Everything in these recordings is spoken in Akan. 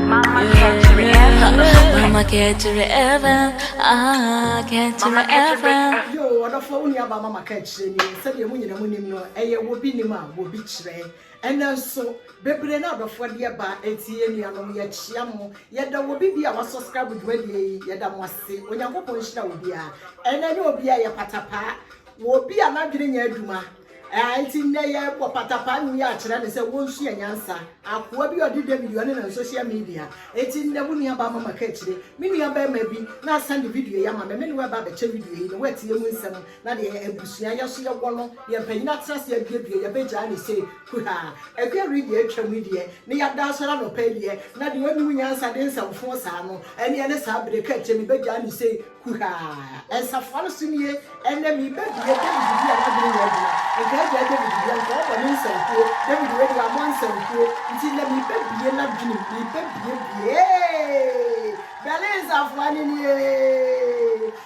Mama kɛkyerɛ Eva Mama kɛkyerɛ Eva Ah kɛkyerɛ Eva Yo ɔdɔfoɔ wo nua baa mama kɛkyerɛ nie sɛdeɛ mo nyina mo nim no ɛyɛ wɔ bi nim a wɔ bi kyerɛ ɛnɛ nso bebree na adɔfoɔ deɛ baa ɛti yɛ nua nom yɛ kyea mo yɛda wɔ bi bi a wa subscribe dwumadie yi yɛda mo ase Onyankopɔn nhyira wɔ biaa ɛnɛ nyɛ wɔ biaa yɛ pata paa wɔ bi a na dwene nyɛ adwuma Ɛɛ, enti nnɛ yɛrebɔ patapaa nnwom yi akyerɛ no sɛ wonsua nyansa. Akoa bi a ɔde David Yohane nam social media. Enti nnɛ wo nua baa mama kaakyire. Me nua barima bi na asan de video yi ama me. Me ne wo reba abɛkyɛ video yi na woatie mu nsɛm na deɛ abusua yɛ so yɛwɔ no, deɛ mpanyin atena ase aduadua, yɛbɛgyaa no sei kuhaa. Akuo awere deɛ atwam yi deɛ, na yɛada asɔre anɔpa yi deɛ, na deɛ ɔnnim nyansa de nsɛm foo saa no, ɛnneɛ ne saa bere kaakyire no, yɛbɛgyaa no sei. Kuhaa, nsafoa no so nie, Ɛnnɛ merebɛbue Dawid bi a n'adwene nyɛ adwuma, nka agya Dawid deɛ, nka ɔbɔ ne nsankuo, Dawid wei deɛ wammɔ nsankuo, nti nnɛ merebɛbue n'adwenem, merebɛbuebuee, Bɛle nsafoa no nie,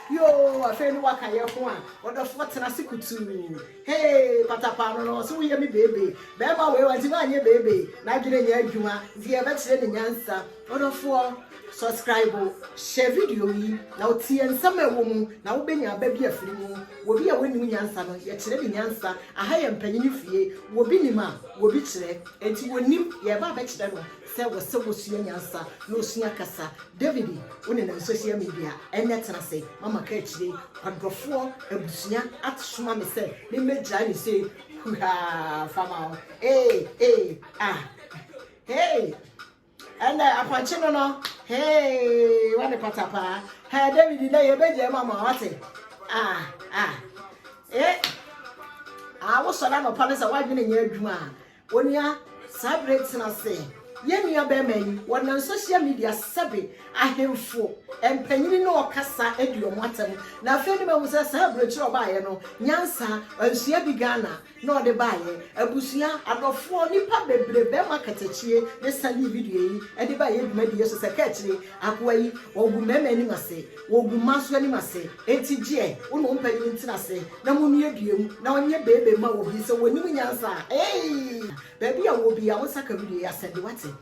Yoo, afei ne waka yɛ ho a, ɔdɔfoɔ tena ase kutuu, Hee, patapaa no no, ɔse woyɛ me beebe, bɛɛma wei wante woanyɛ beebe, n'adwene nyɛ adwuma, nti yɛbɛkyerɛ ne nyansa. Ɔdɔfoɔ, sɔskraibo, hyɛ video yi, na wo tie nsɛm a ɛwɔ mu, na wo bɛnya aba bi afiri mu. Wɔ bi a wɔnnim nyansa no, yɛ kyerɛ ne nyansa. Aha yɛ mpanyini fie, wɔ bi nim a, wɔ bi kyerɛ. Ɛnti wɔ nnim, yɛ ɛba abɛkyerɛ no sɛ wɔ sɛ wɔ sua nyansa, na ɔsua kasa. David, wo ne nam social media, ɛnnɛ tena ase, ma ma ka akyire. Ɔdɔfoɔ, abusua at soma me sɛ me mmɛ gyae ne sei, huhaa, nfa ma wo, ee, ee, ah, hee. Ɛnɛ apɔnkye no no hee wɔ ne patapaa hɛɛ David dɛ yɛbɛgya mu ama wate ah ah e ah wosɔre anɔpa no sɛ woadwene nyɛ adwuma a onua saa bere tena ase yɛn nua bɛrima yi wɔnam social media sɛbe ahemfo mpanyini ne ɔkasa adi wɔn atɛm na afei ne mahu sɛ saa aburokyerɛ ɔbaayɛ no nyansa nsua bi Ghana na ɔde baeɛ. Abusua, adɔfoɔ, nnipa bebree bɛma katakyie ne Sunday video yi de ba yɛn dwumadie so sɛ kaakyire akoa yi ɔgu mmarima anim ase, ɔgu mmaa nso anim ase enti gyeɛ wo ne wo mpanin ntena ase na monua dua mu na ɔnyɛ baby mma wo bi sɛ wɔnim nyansa a eii baabi a ɔwɔ biara monsa ka video yi asɛde wate.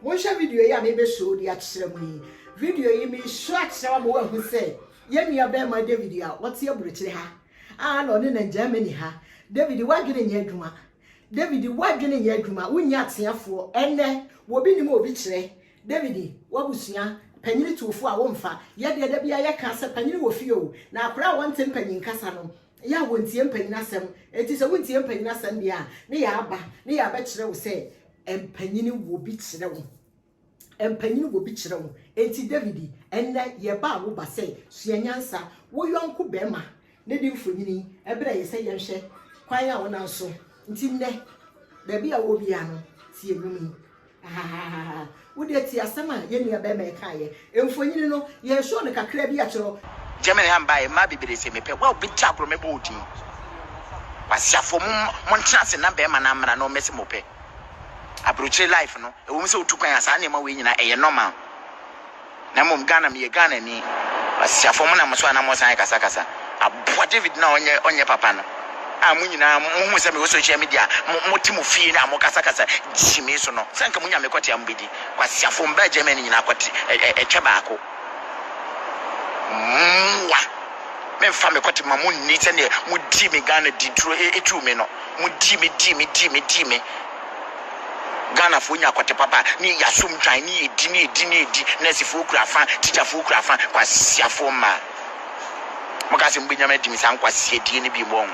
Monhwɛ video yi a mebɛ show de akyerɛ mo yi, video yi me show akyerɛ wo ama woahu sɛ yɛn nua barima David a ɔte aburokyire ha, Ah na ɔne na Germany ha. David w'adwene nyɛ adwuma David w'adwene nyɛ adwuma wonyɛ ateafoɔ ɛnɛ wɔbi nim a obi kyerɛ David w'abusua panyini tuofoɔ a womfa yɛ deɛ da biara yɛka sɛ panyini wɔ fie o na akora a wɔnte mpanyin kasa no yɛ a wɔntie mpanyin asɛm enti sɛ wontie mpanyin asɛm deɛ a ne yɛ aba ne yɛ abɛkyerɛ wo sɛ mpanyini wɔ bi kyerɛ wo. mpanyin wɔ bi kyerɛ wo. Enti David, ɛnnɛ yɛbaa wo ba sɛ sua nyansa. Wo yɔnko barima no de mfonini brɛɛ yɛn sɛ yɛnhwɛ kwan a ɔnam so. Enti nnɛ, baabi a wowɔ biara no, tie nnwom yi. Ahahahaha! Wo deɛ tie asɛm a yɛn nuabarima yi kaeɛ Mfonyin no, yɛsɔɔ no kakra bi akyerɛw. Germany ha mbae mmaa beberee se mepɛ wo a obi gye agorɔ mɛbɔ wo din Kwasiafoɔ mo mo ntena ase na bɛɛma no amena no mɛse mopɛ abrokyire life no ɛwom sɛ wotu kwan a saa nneɛma wei nyinaa ɛyɛ normal na mmom Ghana meyɛ Ghanani Kwasiafoɔ mo nam moso a na mosan rekasa kasa aboa David no a ɔnyɛ ɔnyɛ papa no a mo nyinaa mohu sɛ mewɔ social media a mo mote mo fie a mokasa kasa gyimii so no sɛ nka monya mekɔte a mobɛdi Kwasiafo mbra Germany nyina kɔ te ɛtwɛ baako mmoa me nfa me kɔ te ma mo nni sɛ neɛ mo dii me Ghana di duro etuu me no mo dii me dii me dii me dii me Ghana foɔ nya kɔ te papa ne yɛ asom dwan ne yɛ di ne yɛ di ne yɛ di nurse foɔ kura fa teacher foɔ kura fa kwasiafo mma mo ka sɛ mo bɛ nyama adi me saa nkwasia die ne bi mo ɔn.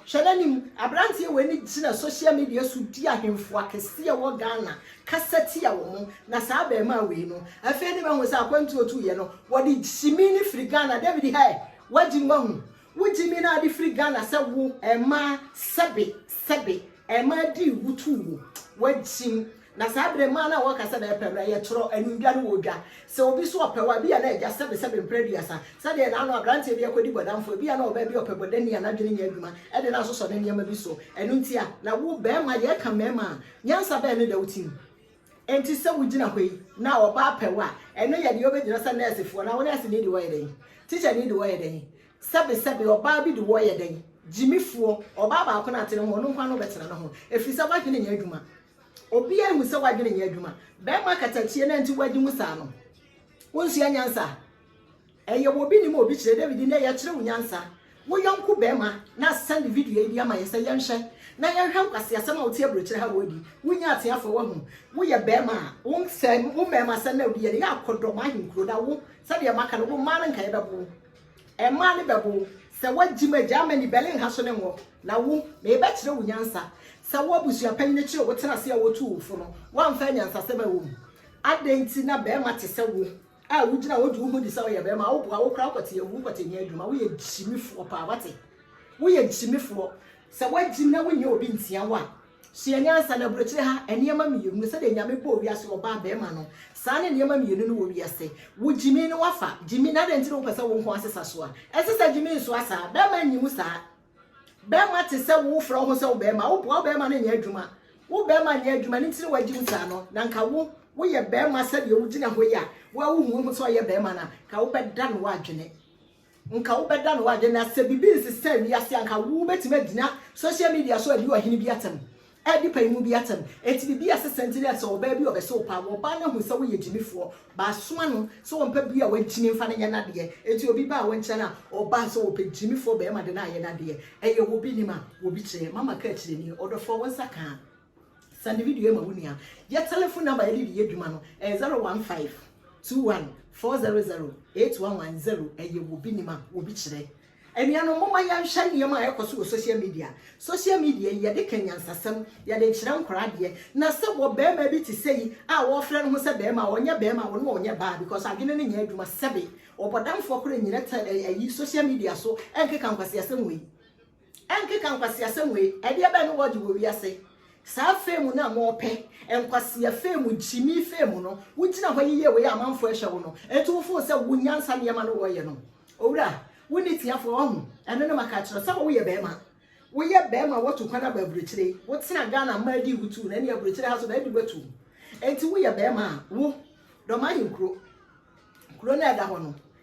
Hwɛ n'anim Aberanteɛ wei ne gyina social media so di ahemfo akɛseɛ a ɛwɔ Ghana kasa tia wɔn, na saa abarimaa wei no, afei ne mahu sɛ akwantuo tuiɛ no, wɔde gyimii no firi Ghana, David hɛ! W'agyim w'ahu? Wo gyimii no a wode firi Ghana sɛ wo, ɛmmaa, sɛbe, sɛbe, ɛmmaa dii wo tuu wo, w'agyim, Na saa berɛ mu ara na wɔka sɛ, Dɛpɛ, bra yɛtwerɛ animdwa no wɔ odwa. Sɛ obi so ɔpɛ wo a, ebia na agya sɛbesɛbe mprɛ aduasa. Sɛdeɛ na ano aberanteɛ bi rekɔdi bɔdamfoɔ, ebia na ɔbaa bi a ɔpɛ bɔdani a n'adwene nyɛ adwuma de no asosɔ ne nneɛma bi so. Ɛno nti a na wo barima, yɛreka mmarima a, nyansa bɛn ne da wo tirim? Enti sɛ wogyina hɔ yi na ɔbaa pɛ wo a, ɛno yɛ deɛ wobɛgyina sɛ nɛɛsefoɔ na wo nɛɛseni de wo ayɛ dɛn? Tikyani de wo ayɛ dɛn? Sɛbesɛbe ɔbaa bi de wo ayɛ dɛn? Gyimifoɔ, ɔbaa baako na ate ne ho, ɔno nko ara na wobɛtena ne ho, ɛfiri sɛ w'adwene nyɛ adwuma. Obiaa ahu sɛ w'adwene nyɛ adwuma. Bɛɛma katakyie na nti w'adi mu saa no. Wonsua nyansa? Ɛyɛ wɔ obi nim a obi kyerɛ. David nnɛ yɛkyerɛ wo nyansa. Wo yɔnko bɛɛma na asɛnde video yi bi ama yɛn sɛ yɛnhwɛ na yɛnhwɛ nkwaseasɛm a wote aburokyire ha wɔ adi. Wonyɛ ateafoɔ wahu. Woyɛ bɛɛma a wo sɛ wo mɛɛma sɛ nnɛ wode yɛ no yɛ akɔdɔm ahenkuro na wo sɛdeɛ maka no wo mmaa no nkaeɛ bɛbo wo. Mmaa no bɛbɔ wo sɛ woagyim a Germany, Berlin ha so ne ngo. Na wo, merebɛkyerɛ wo nyansa. Sɛ wo abusua panyin kyerɛ wo tena ase a wotuu wo fo no, woamfa anyansasɛm a ɛwɔ mu. Adɛn nti na barima te sɛ wo a wugyina hɔ gye wo ho di sɛ woyɛ barima, woboa wo koraa wokɔte awu nkɔtɛnni adwuma? Woyɛ gyimifoɔ paa, woate? Woyɛ gyimifoɔ. Sɛ woagyim na wonyɛ obi ntia wo a, Sua nyansa na aburokyire ha nneɛma mmienu, sɛdeɛ Nyame bɔɔ wiase wɔ ɔbaa bɛɛma no, saa ne nneɛma mmienu no wɔ wiase. Wo gyimi no wafa, gyimi, na adɛn nti na wopɛ sɛ wo nko asesa so a? Ɛnsɛ sɛ gyimi nsoa saa, bɛɛma nnye mu saa. Bɛɛma te sɛ wo, wofrɛ wo ho sɛ wo bɛɛma, woboa wo bɛɛma no nyɛ adwuma. Wo bɛɛma nyɛ adwuma, ne ntini wagye mu saa no, na nka wo, woyɛ bɛɛma sɛdeɛ wogyina hɔ yi a, wo a wohu wo ho sɛ ɔyɛ bɛɛma no a, nka wobɛdane w'adwene. Nka wobɛda no ade na sɛ biribi nsesaa wiase a, nka wubetumi agyina social media so adi ɔhene bi atɛm, adi panin bi atɛm. Enti biribi a ɛsesa nti ne sɛ ɔbaa bi a ɔbɛsɛ wo paa, ɔbaa no ahu sɛ woyɛ gyimifoɔ. Bɛasoma no sɛ ɔmpɛ bia a wagyimi mfa no nyɛ n'adeɛ. Enti obi baa wo nkyɛn a, ɔbaa sɛ ɔpɛ gyimifoɔ barima de no ayɛ n'adeɛ. Ɛyɛ obi nim a, obi kyerɛ. Mama ka akyire nie, Ɔdɔfoɔ, wo nsa ka a. Send the video ma wo nua. Yɛ telephone number yɛde de yɛ adwuma no ɛyɛ 015 21 400 8110 ɛyɛ wɔ bi nim a wɔ bi kyerɛ. Anuanom momma yɛnhwɛ nneɛma a ɛkɔ so wɔ social media. Social media yi yɛde ka nyansasɛm, yɛde kyerɛ nkora adeɛ. Na sɛ wɔ barima bi te sɛ yi a wɔfrɛ no ho sɛ barima a ɔnyɛ barima a ɔno ɔnyɛ baa because adwene no nyɛ adwuma sɛbe ɔbɔdamfoɔ koraa nyina tɛ ɛyi social media so ɛnkeka nkwaseasɛm wei. ɛnkeka nkwaseasɛm wei, ɛdeɛ bɛn ne wɔgye wɔ wiase? Saa fame no a mopɛ, nkwasea fame, gyimii fame no, wogyina hɔ yeyɛ wei a amanfoɔ ɛhwɛ wo no, ɛnti wo feel sɛ wo nyansa nneɛma no wɔyɛ no, owura, wonni tiafoɔ, wahu, ɛno ne maka akyerɛ wo, sɛ woyɛ barima, woyɛ barima a watu kwan aba aburokyire, wotena Ghana mmaa dii wo tuu, na ɛne aburokyire ha nso na adi wo atuu, ɛnti woyɛ barima a, wo, dɔm ahenkuro, kuro no a ɛda hɔ no,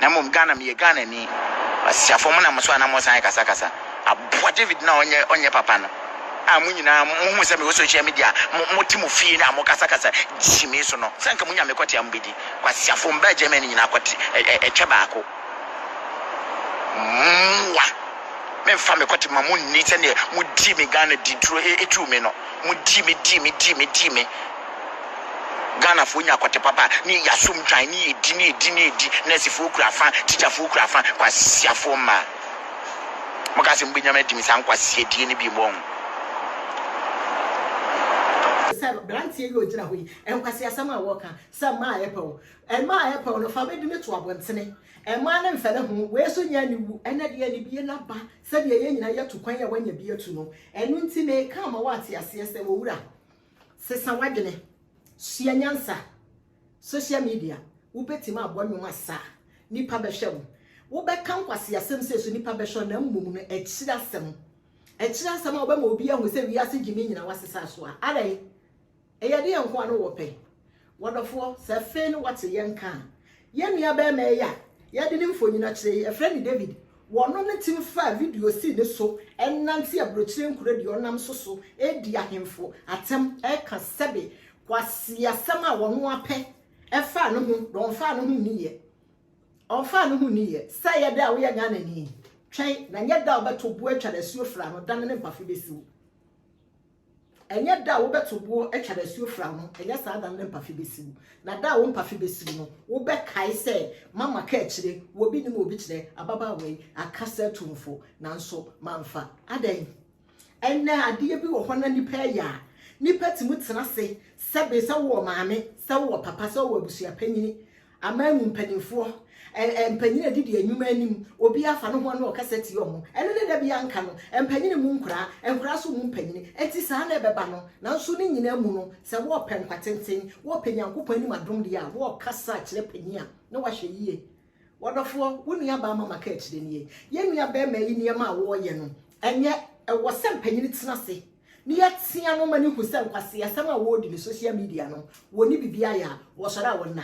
Na mmom Ghana meyɛ Ghanani asiafoɔ mo na mo so a na mo san kasa kasa aboa David no a ɔnyɛ ɔnyɛ papa no a mo nyinaa mo hu sɛ me wɔ social media mo mo te mo fie na mo kasa kasa gyi me so no sɛ nka mo nya me kɔte a mo bɛ di kɔ asiafoɔ mo bɛ Germany nyinaa kɔte ɛ ɛ ɛtwɛ baako mmoa me nfa me kɔte ma mo nni sɛ deɛ mo di me Ghana di duro e etu me no mo di me di me di me di me Ghanafoɔ nya akwate papa a, ne yɛyɛ asom dwan, ne yɛdi, ne yɛdi, ne yɛdi, nɛɛsefoɔ kura fa, tikyafoɔ kura fa, kwasiafoɔ mma. Moka sɛ mobɛnya me adi me saa nkwasiadie no biom ɔho. Sɛ branteɛ yi ɔgyina hɔ yi nkwasiasɛm a wɔka sɛ mmaa a ɛpɛw mmaa a ɛpɛw no fa bɛdi no to abɔntene mmaa no mfɛne ho wei nso nyɛ aniwu ɛnɛ deɛ anibie no aba sɛdeɛ yɛn nyinaa yɛtu kwan a wanya bi atu no ɛno nti meka ama woate aseɛ sɛ owura Sesa w'adwene. Sua nyansa. Social media, wobɛtumi abɔ nnwom asa a, nnipa bɛhwɛ wo. Wobɛka nkwaseasɛm sei so, nnipa bɛhwɛ wo, na mmom no, akyiri asɛm. Akyiri asɛm a wobɛma obi ahu sɛ wiase gyimi nyinaa woasesa so a, adɛn? Ɛyɛ ɛdeɛn nko ara na wɔpɛ? W'adɔfoɔ, sɛ afei ne wɔte yɛn nka a, yɛn nua barima yi a yɛde ne mfonini akyerɛ yi, yɛfrɛ no David, wɔno ne tim faa video sii ne so nante aburokyire nkuro deɛ ɔnam so so redi ahemfo atem reka sɛbe kwaseasɛm a wɔno ara pɛ ɛfaa ne ho na ɔmfaa ne ho nniiɛ ɔmfaa ne ho nniiɛ sɛ ɛyɛ dɛ a woyɛ Ghanani twɛn na nyɛ da a wobɛto boɔ atwa no asuo fra no dane ne mpafo bɛsi wo Ɛnyɛ da a wobɛto boɔ atwa n'asuo fra ho, ɛnyɛ saa da no na mpafe bɛsiw. Na da a wo mpafe bɛsiw no, wobɛkae sɛ, Mama ka akyire, wɔ bi nim obi kyerɛ, ababaawa yi aka sɛ atumfo, nanso mamfa. Adɛn? Ɛnnɛ, adeɛ bi wɔ hɔ na nnipa reyɛ a nnipa tumi tena ase sɛ be, sɛ wowɔ maame, sɛ wowɔ papa, sɛ wowɔ abusua panyin, Aman mu mpanimfoɔ, ɛ, mpanyin a ɛdidi nnwuma anim, obiara fa ne ho ne ɔkasa tia wɔn. Ɛno ne da bi anka no, mpanyin mmu nkoraa, nkoraa nso mmu mpanyin. Enti saa na ɛbɛba no. Nanso ne nyinaa mu no, sɛ wɔrepɛ nkwa tenten, wɔrepɛ Nyankopɔn anim adom deɛ a, wɔrekasa kyerɛ panyin a na wahwɛ yie. Wɔdɔfoɔ, wo nuabaa mama ka akyire nie. Yɛn nuabarima yi nneɛma a wɔreyɛ no, ɛnyɛ, ɛwɔ sɛ mpanyin tena ase Ne yɛ tea no ma ne hu sɛ nkwaseasɛm a wɔredi ne social media no wɔ ne bibi ayɛ a wɔsɔre a wɔn na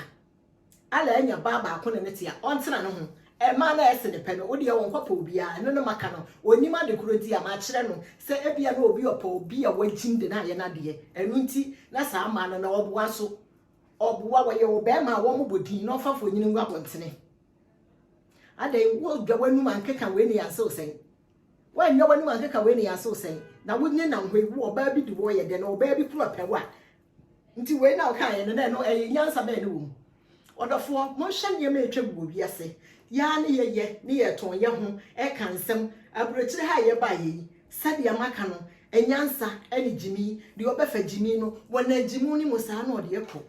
Allah anya baa baako ne ne tea ɔntena ne ho ɛmaa na ɛse ne pɛ no wo deɛ ɔnkɔ pɛ obiara ɛno ne maka no ɔnim ade korɔ nti a makyerɛ no sɛ ebia na obi ɔpɛ obi a wagyim de no ayɛ n'adeɛ ɛno nti na saa maa no na ɔboa nso ɔboa wɔyɛ wɔ bɛrima a wɔn bɔ din na ɔmfa fonyini ngu abɔntene adɛn wodwa w'anum ankeka wei ne yɛn asew sɛn Woannya w'anim ankeka wei ne yɛasew sɛn na wonye nam hɔ yi wo ɔbaa bi di wɔ yɛ dɛ na ɔbaa bi kura pɛ wo a nti wei na ɔka yɛ no na ɛno ɛyɛ nyansa bɛn ne wɔ mu ɔdɔfoɔ monhwɛ nneɛma a ɛtwa gu wɔ wiase yɛa ne yɛyɛ ne yɛtɔn yɛ ho ɛka nsɛm aburokyire ha a yɛbaa yɛ yi sɛdeɛ maka no nyansa ɛne gyimii deɛ ɔbɛfa gyimii no wɔ nagyimu no mu saa na ɔde ɛkɔ.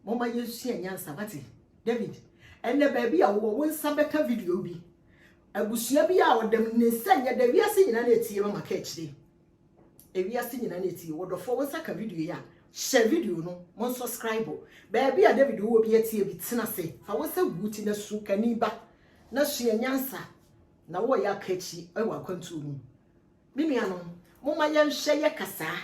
Momma yɛnsua nyansa, wate? David, ɛnnɛ baabi a wowɔ, wo nsa bɛka video bi. Abusua bi a ɔda mu ne nsa nyɛ dɛ, wiase nyinaa na etie ma maka akyire. Ewiase nyinaa na etie. Wɔdɔfoɔ, wo nsa ka video yi a, hyɛ video no, mo nsɔskraibo. Baabi a David wowɔ bi atie bi, tena ase, fa wo nsa gu wo ti na su, kani ba, na sua nyansa, na wowɔ yɛ aka akyire wɔ akwantuo mu. Me nuanom, momma yɛnhwɛ yɛ kasaa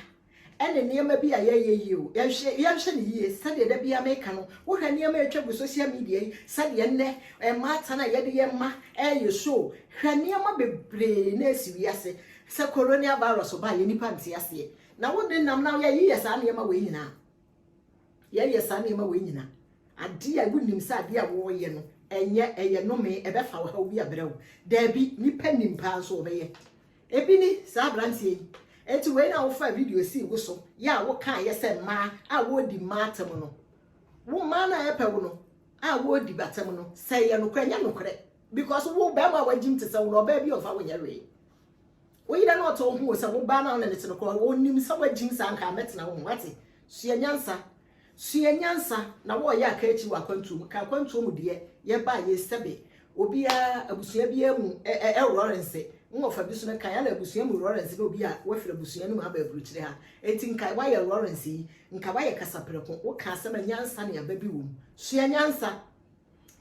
ne nneɛma bi a yɛyɛ yie o. Yɛnhwɛ, yɛnhwɛ no yie. Sɛdeɛ da biara meka no, wohwɛ nneɛma a ɛtwa gu social media yi, sɛdeɛ nnɛ mmaatan a yɛde yɛ mma reyɛ show, hwɛ nneɛma bebree na ɛsi wiase. Sɛ Coronia Virus baeɛ, nnipa nte aseɛ. Na wo denam na yɛyeyɛ saa nneɛma wei nyinaa. Yɛyɛ saa nneɛma wei nyina adeɛ a wonim sɛ adeɛ a wɔreyɛ no ɛnyɛ ɛyɛ nomee ɛbɛfa ɔhaw bi abrɛ wo daabi nipa nim paa nso ɔbɛyɛ ebi ni saa abranteɛ yi eti wei na wofa video sii wo so yɛ a wokaa yɛ sɛ mmaa a wɔredi mmaa atam no wo mmaa no a ɛpɛ wo no a wɔredi batam no sɛ yɛ nokorɛ nyɛ nokorɛ because wo bɛrima a wagyim te sɛ wo no ɔbaa bi ɔmfa wo nyɛ wee Wo yere na ɔtɔ wo hu o sɛ wo ba no a wo ne no te no koraa ɔnim sɛ woagyim saa nka mɛtena wo ho wate? Sua nyansa sua nyansa na wɔɔyɛ a ka akyi wɔ akwantuo mu ka akwantuo mu deɛ yɛba a yɛ sɛbe obiara abusua biara mu ɛ ɛ ɛwrɔrense nwɔfa bi so no kan ana abusua mu wrɔrense na obi a wafiri abusua no mu aba aburukyire ha enti nka woayɛ wrɔrense yi nka woayɛ kasaprɛko wo ka asɛm a nyansa ne aba bi wɔ mu sua nyansa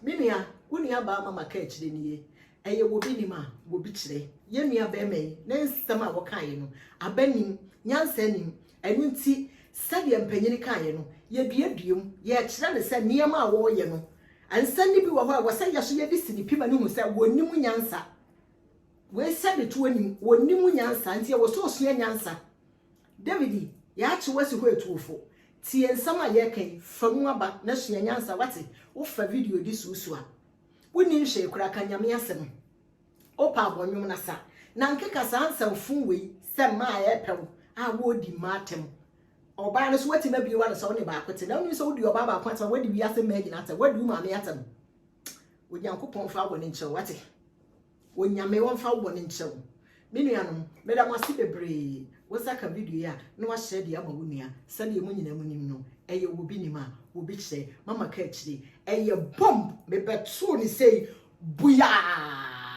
me nua wo nua baa mama ka akyire nie Ɛyɛ wɔ bi nim a wɔ bi kyerɛ. Yɛn nua barima yi ne nsɛm a wɔkaeɛ no, aba nim, nyansa nim. Ɛno nti, sɛdeɛ mpanin kaeɛ no, yɛduadua mu, yɛkyerɛ no sɛ nneɛma a wɔreyɛ no, nsɛm no bi wɔ hɔ a ɛwɔ sɛ yɛ so yɛde si ne pi ma no hu sɛ wɔnnim nyansa. Wei sɛdetoɔ nim, wɔnnim nyansa, nti ɛwɔ sɛ ɔsua nyansa. David, yɛakye wo asi hɔ atuofo. Tie nsɛm a yɛreka yi, fa mu aba na sua nyansa, woate? Wofa video de suasua. Wonni nhwee koraa, ka Nyame asɛm. Wopɛ a bɔ nnwom na sa, na nkeka saa nsaw fun wei sɛ mmaa a ɛrepɛ wo a wɔredi mmaa atɛm. Ɔbaa no nso woatumi abue w'ano sɛ wo ne baako te, na wonim sɛ wodi ɔbaa baako atɛm a woadi wiase mmaa nyinaa atɛm, woadi wo maame atɛm. Onyankopɔn mfa wo bɔne nkyɛ wo, woate? Onyame ɔmfa wo bɔne nkyɛ wo. Me nuanom, meda mo ase bebree. Wo nsa ka video yi a, na woahyɛ de ama wo nua. Sɛdeɛ mo nyinaa mo nim no, ɛyɛ obi nim a, obi kyerɛ. Mama ka akyire. Ɛyɛ bomb! Mebɛtoo no sei, buyaa!